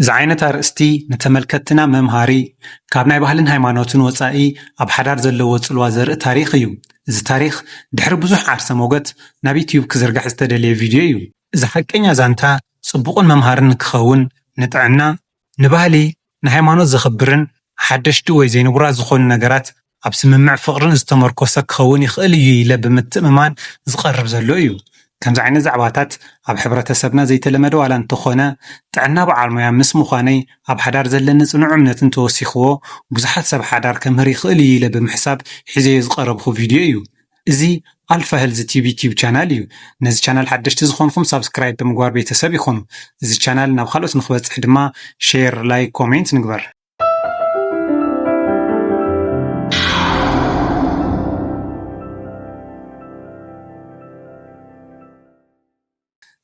ዝዓይነት ኣርእስቲ ንተመልከትትና መምሃሪ፣ ካብ ናይ ባህልን ሃይማኖትን ወጻኢ ኣብ ሓዳር ዘለዎ ጽልዋ ዘርኢ ታሪኽ እዩ። እዚ ታሪኽ ድሕሪ ብዙሕ ዓርሰ ሞገት ናብ ዩትዩብ ክዝርጋሕ ዝተደልየ ቪድዮ እዩ። እዚ ሓቀኛ ዛንታ ጽቡቕን መምሃርን ንክኸውን ንጥዕና፣ ንባህሊ፣ ንሃይማኖት ዘኽብርን ሓደሽቲ ወይ ዘይንቡራት ዝኾኑ ነገራት ኣብ ስምምዕ ፍቕርን ዝተመርኮሰ ክኸውን ይኽእል እዩ ኢለ ብምትእምማን ዝቐርብ ዘሎ እዩ። ከምዚ ዓይነት ዛዕባታት ኣብ ሕብረተሰብና ዘይተለመደ ዋላ እንተኾነ፣ ጥዕና በዓል ሞያ ምስ ምዃነይ ኣብ ሓዳር ዘለኒ ጽኑዕ እምነት እንተወሲኽዎ ብዙሓት ሰብ ሓዳር ከምህር ይኽእል እዩ ኢለ ብምሕሳብ ሒዘዮ ዝቐረብኹ ቪድዮ እዩ። እዚ ኣልፋ ሄልዝ ቲቪ ቲዩብ ቻናል እዩ። ነዚ ቻናል ሓደሽቲ ዝኾንኹም ሳብስክራይብ ብምግባር ቤተሰብ ይኹኑ። እዚ ቻናል ናብ ካልኦት ንኽበጽሕ ድማ ሼር፣ ላይክ፣ ኮሜንት ንግበር።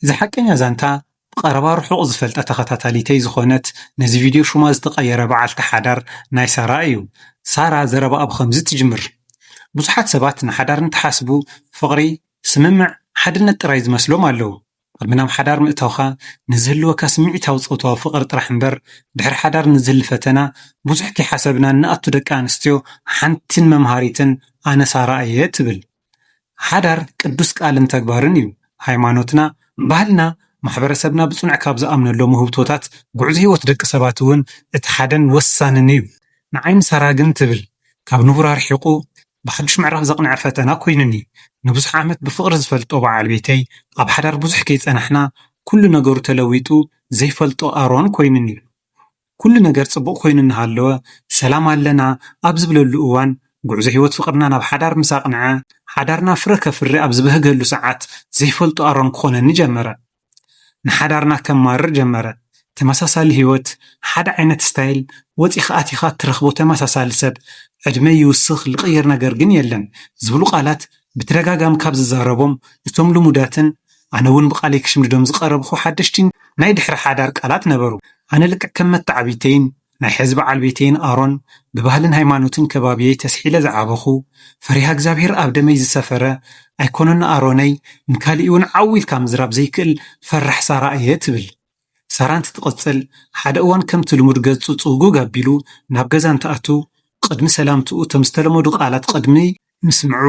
እዚ ሓቀኛ ዛንታ ብቐረባ ርሑቕ ዝፈልጣ ተኸታታሊተይ ዝኾነት ነዚ ቪድዮ ሹማ ዝተቐየረ በዓልቲ ሓዳር ናይ ሳራ እዩ። ሳራ ዘረባኣ ብኸምዚ ትጅምር፣ ብዙሓት ሰባት ንሓዳር እንትሓስቡ ፍቕሪ፣ ስምምዕ፣ ሓድነት ጥራይ ዝመስሎም ኣለዉ። ቅድሚ ናብ ሓዳር ምእታውካ ንዝህልወካ ስምዒታዊ ጾታዊ ፍቕሪ ጥራሕ እምበር ድሕሪ ሓዳር ንዝህሊ ፈተና ብዙሕ ከይሓሰብና እንኣቱ ደቂ ኣንስትዮ ሓንቲን መምሃሪትን ኣነ ሳራ እየ ትብል ሓዳር ቅዱስ ቃልን ተግባርን እዩ ሃይማኖትና ባህልና ማሕበረሰብና ብጽኑዕ ካብ ዝኣምነሎም ውህብቶታት ጉዕዞ ህይወት ደቂ ሰባት እውን እቲ ሓደን ወሳንን እዩ ንዓይ ንሳራ ግን ትብል ካብ ንቡር ኣርሒቑ ብሓዱሽ ምዕራፍ ዘቕንዐ ፈተና ኮይኑኒ። ንብዙሕ ዓመት ብፍቕሪ ዝፈልጦ በዓል ቤተይ፣ ኣብ ሓዳር ብዙሕ ከይጸናሕና ኩሉ ነገሩ ተለዊጡ ዘይፈልጦ ኣሮን ኮይኑኒ። ኩሉ ነገር ጽቡቕ ኮይኑ እናሃለወ፣ ሰላም ኣለና ኣብ ዝብለሉ እዋን፣ ጉዕዞ ህይወት ፍቕርና ናብ ሓዳር ምስ ኣቕንዐ፣ ሓዳርና ፍረ ከፍሪ ኣብ ዝበህገሉ ሰዓት ዘይፈልጦ ኣሮን ክኾነኒ ጀመረ። ንሓዳርና ከማርር ጀመረ ተመሳሳሊ ሂወት ሓደ ዓይነት ስታይል ወጺካ ኣቲካ ትረክቦ ተመሳሳሊ ሰብ ዕድመይ ይውስክ ልቅይር ነገር ግን የለን ዝብሉ ቃላት ብተደጋጋሚ ካብ ዝዛረቦም እቶም ልሙዳትን ኣነ ውን ብቃለይ ክሽምድዶም ዝቀረብኩ ሓደሽቲ ናይ ድሕሪ ሓዳር ቃላት ነበሩ ኣነ ልክዕ ከም መታዓብይተይን ናይ ሐዚ በዓል ቤተይን ኣሮን ብባህልን ሃይማኖትን ከባብየይ ተስሒለ ዝዓበኹ ፈሪሃ እግዚኣብሄር ኣብ ደመይ ዝሰፈረ ኣይኮነን ኣሮነይ ንካሊእውን ዓው ኢልካ ምዝራብ ዘይክእል ፈራሕ ሳራ እየ ትብል ሳራ እንትትቕፅል ሓደ እዋን ከምቲ ልሙድ ገፁ ፅውግግ ኣቢሉ ናብ ገዛ እንትኣቱ ቕድሚ ሰላምትኡ እቶም ዝተለመዱ ቓላት ቕድሚ ምስምዑ፣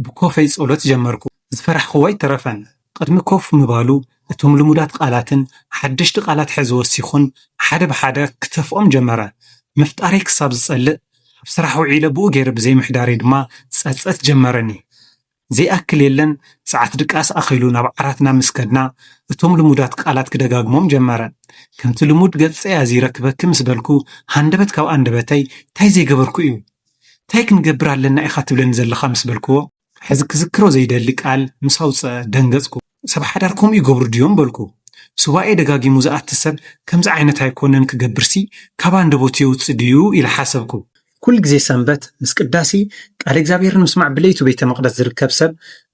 ብኮፈይ ጸሎት ጀመርኩ። ዝፈራሕኩዎ ኣይተረፈን። ቅድሚ ኮፍ ምባሉ፣ እቶም ልሙዳት ቃላትን ሓደሽቲ ቃላት ሕዚ ወሲኹን ሓደ ብሓደ ክተፍኦም ጀመረ። ምፍጣረይ ክሳብ ዝጸልእ፣ ኣብ ስራሕ ውዒለ ብኡ ገይረ ብዘይምሕዳረይ ድማ ጸጸት ጀመረኒ። ዘይኣክል የለን ሰዓት ድቃስ ኣኺሉ ናብ ዓራትና ምስ ከድና፣ እቶም ልሙዳት ቃላት ክደጋግሞም ጀመረ። ከምቲ ልሙድ ገጸይ ኣዚረ ክበኪ ምስ በልኩ፣ ሃንደበት ካብ ኣንደበተይ፣ እንታይ ዘይገበርኩ እዩ? እንታይ ክንገብር ኣለና ኢኻ ትብለኒ ዘለኻ ምስ በልክዎ፣ ሕዚ ክዝክሮ ዘይደሊ ቃል ምስ ኣውጽኣ ደንገጽኩ። ሰብ ሓዳር ከምኡ ይገብሩ ድዮም? በልኩ። ሱባኤ ደጋጊሙ ዝኣቲ ሰብ ከምዚ ዓይነት ኣይኮነን ክገብርሲ ካብ ኣንደበቱ የውጽእ ድዩ? ኢለ ሓሰብኩ። ኩሉ ግዜ ሰንበት ምስ ቅዳሴ ቃለ እግዚኣብሔርን ምስማዕ ብለይቱ ቤተ መቕደስ ዝርከብ ሰብ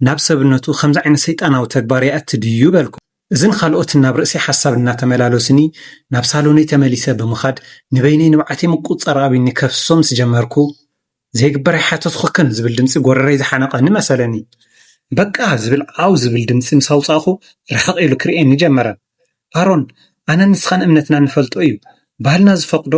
ናብ ሰብነቱ ከምዚ ዓይነት ሰይጣናዊ ተግባር የእቲ ድዩ? በልኩ። እዝን ኻልኦትን ናብ ርእሲ ሓሳብ እናተመላለሱኒ፣ ናብ ሳሎነይ ተመሊሰ ብምኻድ ንበይነይ ንብዓተይ ምቁጽጻር ኣቢኒ ከፍስሶ ምስ ጀመርኩ፣ ዘይግበር ኣይሓተትኹክን ዝብል ድምጺ ጎረረይ ዝሓነቐኒ መሰለኒ። በቃ! ዝብል ዓው ዝብል ድምጺ ምስ ኣውጻእኹ ርሕቕ ኢሉ ክርእየኒ ጀመረ። ኣሮን፣ ኣነን ንስኻን እምነትና እንፈልጦ እዩ። ባህልና ዝፈቕዶ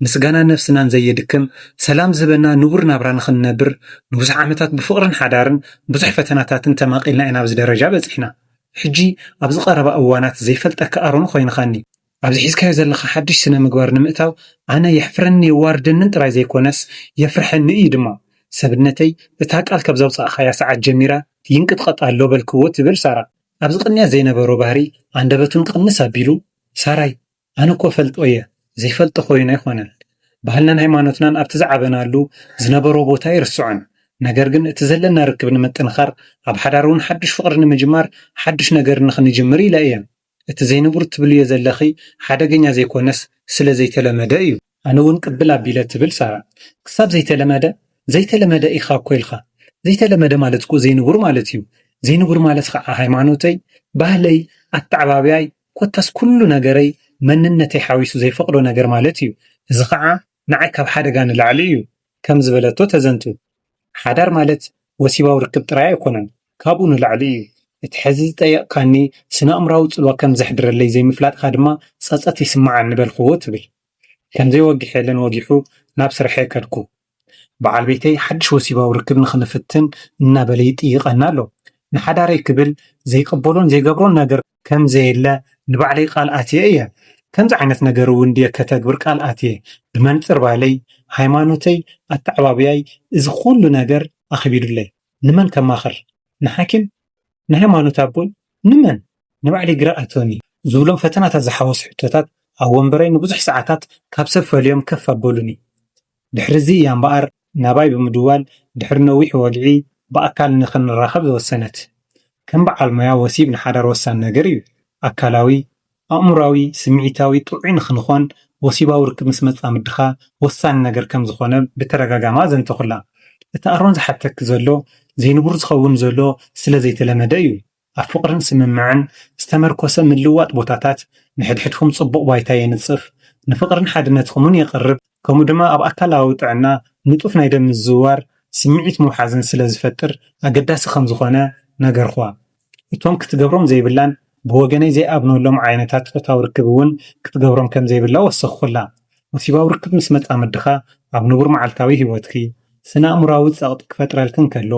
ምስጋናን ነፍስናን ዘየድክም፣ ሰላም ዝህበና ንቡር ናብራ ንኽንነብር ንብዙሕ ዓመታት ብፍቕርን ሓዳርን ብዙሕ ፈተናታትን ተማቒልና ኢና ኣብዚ ደረጃ በጺሕና። ሕጂ ኣብዚ ቀረባ እዋናት ዘይፈልጠካ ኣሮን ኾይንኻኒ። ኣብዚ ሒዝካዮ ዘለኻ ሓድሽ ስነ-ምግባር ንምእታው ኣነ የሕፍረኒ የዋርደንን ጥራይ ዘይኮነስ የፍርሐኒ እዩ ድማ። ሰብነተይ እታ ቃል ካብ ዘውጻእኻያ ሰዓት ጀሚራ ይንቅጥቀጥ ኣሎ በልክዎ ትብል ሳራ። ኣብዚ ቅንያት ዘይነበሮ ባህሪ ኣንደበቱን ቅንስ ኣቢሉ ሳራይ ኣነ እኮ እፈልጦ እየ ዘይፈልጦ ኮይኑ ኣይኮነን ባህልናን ሃይማኖትናን ኣብቲ ዝዓበናሉ ዝነበሮ ቦታ ኣይርስዖን ነገር ግን እቲ ዘለና ርክብ ንምጥንኻር ኣብ ሓዳር እውን ሓዱሽ ፍቅሪ ንምጅማር ሓዱሽ ነገር ንክንጅምር ኢለ እየ እቲ ዘይንቡር ትብልዮ ዘለኺ ሓደገኛ ዘይኮነስ ስለ ዘይተለመደ እዩ ኣነ እውን ቅብል ኣቢለ ትብል ሳራ ክሳብ ዘይተለመደ ዘይተለመደ ኢኻ እኮ ኢልኻ ዘይተለመደ ማለት እኮ ዘይንቡር ማለት እዩ ዘይንቡር ማለት ኻዓ ሃይማኖተይ ባህለይ ኣተዓባብያይ ኮታስ ኩሉ ነገረይ መንነተይ ሓዊሱ ዘይፈቕዶ ነገር ማለት እዩ፣ እዚ ኸኣ ንዓይ ካብ ሓደጋ ንላዕሊ እዩ ከም ዝበለቶ ተዘንቱ። ሓዳር ማለት ወሲባዊ ርክብ ጥራይ ኣይኮነን፣ ካብኡ ንላዕሊ እዩ። እቲ ሕዚ ዝጠየቕካኒ ስነኣእምሮኣዊ ጽልዋ ከም ዘሕድረለይ ዘይምፍላጥካ ድማ ጸጸት ይስምዓኒ በልክዎ ትብል። ከምዘይወግሐለን ወጊሑ ናብ ስርሐይ ከድኩ። በዓል ቤተይ ሓድሽ ወሲባዊ ርክብ ንኽንፍትን እናበለ ይጥይቐኒ ኣሎ። ንሓዳረይ ክብል ዘይቅበሎን ዘይገብሮን ነገር ከም ዘየለ ንባዕለይ ቃል ኣትየ እየ። ከምዚ ዓይነት ነገር እውን ድየ ከተግብር ቃል ኣትየ? ብመንጽር ባህለይ፣ ሃይማኖተይ፣ ኣተዓባብያይ እዚ ዅሉ ነገር ኣኽቢዱለይ። ንመን ከማኽር? ንሓኪም? ንሃይማኖት ኣቦይ? ንመን? ንባዕለይ ግራ ኣእትወኒ። ዝብሎም ፈተናታት ዝሓወሱ ሕቶታት ኣብ ወንበረይ ንብዙሕ ሰዓታት ካብ ሰብ ፈልዮም ከፍ ኣበሉኒ። ድሕሪዚ እያ እምበኣር ናባይ ብምድዋል ድሕሪ ነዊሕ ወግዒ ብኣካል ንኽንራኸብ ዝወሰነት። ከም በዓል ሞያ ወሲብ ንሓዳር ወሳኒ ነገር እዩ። ኣካላዊ፣ ኣእምሮኣዊ፣ ስምዒታዊ ጥዑይ ንኽንኾን ወሲባዊ ርክብ ምስ መጻምድኻ ወሳኒ ነገር ከም ዝኾነ ብተደጋጋሚ ኣዘንተኹላ። እቲ ኣሮን ዝሓተኪ ዘሎ ዘይንቡር ዝኸውን ዘሎ ስለ ዘይተለመደ እዩ። ኣብ ፍቕርን ስምምዕን ዝተመርኮሰ ምልውዋጥ ቦታታት ንሕድሕድኩም ጽቡቕ ባይታ የንጽፍ፣ ንፍቕርን ሓድነትኩምን የቕርብ፣ ከምኡ ድማ ኣብ ኣካላዊ ጥዕና ንጡፍ ናይ ደም ምዝውዋር፣ ስምዒት ምውሓዝን ስለ ዝፈጥር ኣገዳሲ ከም ዝኾነ ነገርኩዋ። እቶም ክትገብሮም ዘይብላን ብወገነይ ዘይኣምነሎም ዓይነታት ጾታዊ ርክብ እውን ክትገብሮም ከም ዘይብላ ወሰኽኩላ። ወሲባዊ ርክብ ምስ መጻምድኻ ኣብ ንቡር መዓልታዊ ህይወትኪ ስነ-ኣእምሮኣዊ ጸቕጢ ክፈጥረልኪ እንከሎ፣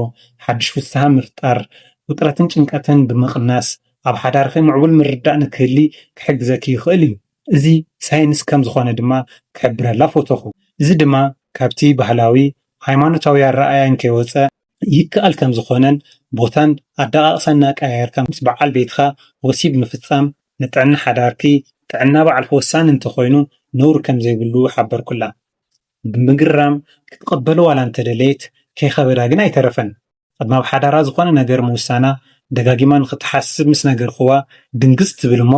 ሓድሽ ፍስሃ ምፍጣር፣ ውጥረትን ጭንቀትን ብምቕናስ ኣብ ሓዳርኺ ምዕቡል ምርድዳእ ንክህሊ ክሕግዘኪ ይኽእል እዩ። እዚ ሳይንስ ከም ዝኾነ ድማ ክሕብረላ ፎቶኹ። እዚ ድማ ካብቲ ባህላዊ ሃይማኖታዊ ኣረኣእያ እንከይወጸ፣ ይከኣል ከምዝኾነን ቦታን ኣደቓቕሳን እናቀያየርካ ምስ በዓል ቤትኻ ወሲብ ምፍፃም ንጥዕና ሓዳርኪ፣ ጥዕና ባዕልኪ ወሳኒ እንተኾይኑ ነውሪ ከምዘይብሉ ሓበርኩላ። ብምግራም ክትቕበሎ ዋላ እንተደለየት ከይኸበዳ ግን ኣይተረፈን። ቅድሚ ኣብ ሓዳራ ዝኾነ ነገር ምውሳና ደጋጊማ ንኽትሓስብ ምስ ነገርክዋ ድንግፅ ትብል እሞ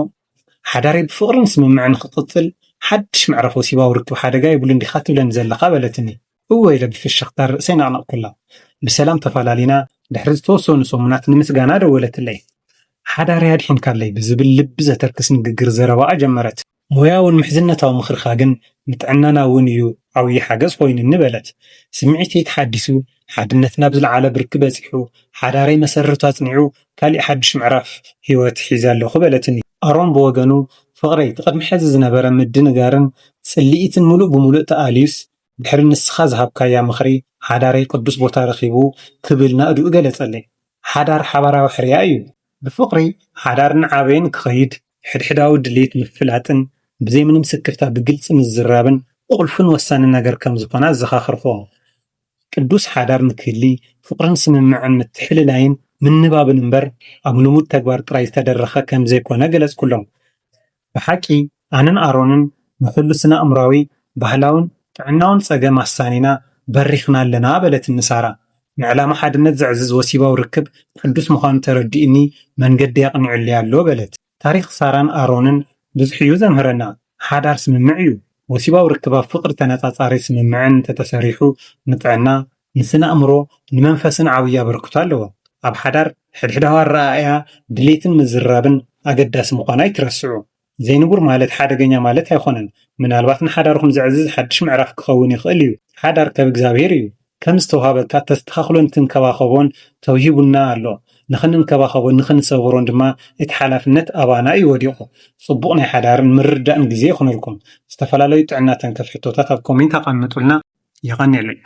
ሓዳረይ ብፍቕርን ስምምዕን ንኽቕፅል ሓድሽ ምዕራፍ ወሲባዊ ርክብ ሓደጋ የብሉን ዲኻ ትብለኒ ዘለኻ በለትኒ። እወ ኢለ ብፍሽኽታ ርእሰይ ነቕነቕኩላ። ብሰላም ተፈላሊና ድሕሪ ዝተወሰኑ ሰሙናት ንምስጋና ደወለትለይ። ሓዳረይ ኣድሒንካለይ ብዝብል ልቢ ዘተርክስ ንግግር ዘረባኣ ጀመረት። ሞያውን ምሕዝነታዊ ምኽርኻ ግን ንጥዕናና እውን እዩ ዓብዪ ሓገዝ ኮይኑኒ በለት። ስምዒተይ ተሓዲሱ፣ ሓድነትና ኣብ ዝለዓለ ብርኪ በጺሑ፣ ሓዳረይ መሰረቱ ኣጽኒዑ ካሊእ ሓድሽ ምዕራፍ ህይወት ሒዘ ኣለኹ በለትኒ። ኣሮን ብወገኑ፣ ፍቕረይ እቲ ቅድሚ ሕዚ ዝነበረ ምድንጋርን ጽልኢትን ምሉእ ብምሉእ ተኣልዩስ ድሕሪ ንስኻ ዝሃብካያ ምኽሪ፣ ሓዳረይ ቅዱስ ቦታ ረኺቡ ክብል ናእድኡ ገለጸለይ። ሓዳር ሓባራዊ ሕርያ እዩ። ብፍቕሪ ሓዳር እናዓበየን ክኸይድ፣ ሕድሕዳዊ ድሌት ምፍላጥን ብዘይ ምንም ስክፍታ ብግልጺ ምዝራብን ቁልፍን ወሳንን ነገር ከም ዝዀነ ኣዘኻኸርክዎ። ቅዱስ ሓዳር ንክህሊ፣ ፍቕርን ስምምዕን ምትሕልላይን ምንባብን እምበር ኣብ ልሙድ ተግባር ጥራይ ዝተደረኸ ከም ዘይኰነ ገለጽኩሎም። ብሓቂ ኣነን ኣሮንን ንኹሉ ስነ-ኣእምሮኣዊ፣ ባህላውን ጥዕናውን ጸገም ኣሳኒና በሪኽና ኣለና በለትኒ ሳራ። ንዕላማ ሓድነት ዘዕዝዝ ወሲባዊ ርክብ ቅዱስ ምዃኑ ተረዲኡኒ መንገደይ ኣቕኒዑለይ ኣሎ በለት። ታሪኽ ሳራን ኣሮንን ብዙሕ'ዩ ዘምህረና። ሓዳር ስምምዕ'ዩ። ወሲባዊ ርክብ ኣብ ፍቕሪ ተነጻጻሪ ስምምዕን እንተተሰሪሑ ንጥዕና፣ ንስነ-ኣእምሮ ንመንፈስን ዓብዪ ኣበርክቶ ኣለዎ። ኣብ ሓዳር፣ ሕድሕዳዊ ኣረኣእያ፣ ድሌትን ምዝርራብን ኣገዳሲ ምዃኑ ኣይትረስዑ። ዘይንቡር ማለት ሓደገኛ ማለት ኣይኮነን፣ ምናልባት ንሓዳርኩም ዘዕዝዝ ሓድሽ ምዕራፍ ክኸውን ይኽእል እዩ። ሓዳር ከብ እግዚኣብሔር እዩ። ከም ዝተውሃበካ ተስተኻኽሎን ትንከባኸቦን ተውሂቡና ኣሎ። ንኽንንከባኸቦን ንኽንሰብሮን ድማ እቲ ሓላፍነት ኣባና እዩ ወዲቑ። ጽቡቕ ናይ ሓዳርን ምርድዳእን ግዜ ይኹነልኩም። ዝተፈላለዩ ጥዕና ተንከፍ ሕቶታት ኣብ ኮሜንት ኣቐምጡልና። የቐኔልና።